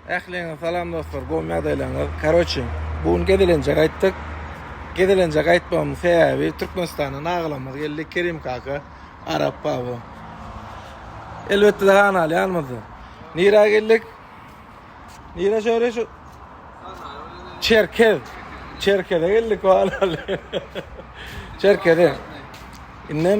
Ähliňize salam dostlar gowy ýagdaýlaryňyz karoçi bu gün gezelenje gaýtdyk gezelenje gaýtmagymyň sebäbi Türkmenistana nagylamyz geldi Kerim kaka Arap baba elbetde de han aly ýanymyzda nirä geldik nirä şöre şu Çerkez Çerkeze geldik han aly Çerkeze indem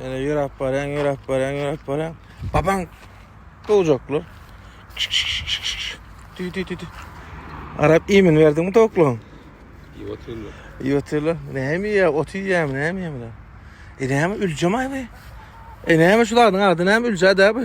Şeýle ýöräp barýaň, ýöräp barýaň, ýöräp barýaň. Babaň! Gowjaklar. Tü tü tü tü. Arap iýmin berdiňmi towuklaryň? Iýip otyrlar. Iýip otyrlar. Näme iýýär? Ot iýýärmi, näme iýýär bular? E näme üljemaý bu? E näme şu zadyň ady näme üljä-dä bu?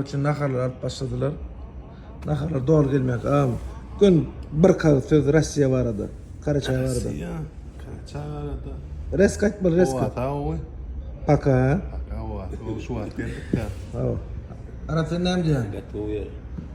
Üçin naharlar alyp başladylar. Naharlar dol gelmek. Am, gün bir kal söz Russiya barada. Karaçay barada. Russiya. Karaçay barada. Res kaçmalı res kaç. Ata oy. Paka. Paka oy. Şu wagt geldik ya. Ava. Arap sen ne diyorsun? Gat oy.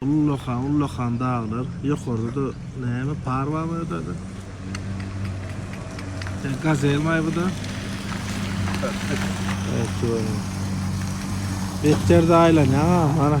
Ullakan ullakan daglar ýokarda-da näme par barmy ýodada? Sen gazel maý bu-da? Evet görün. Beter de aýlanýaň ha mana.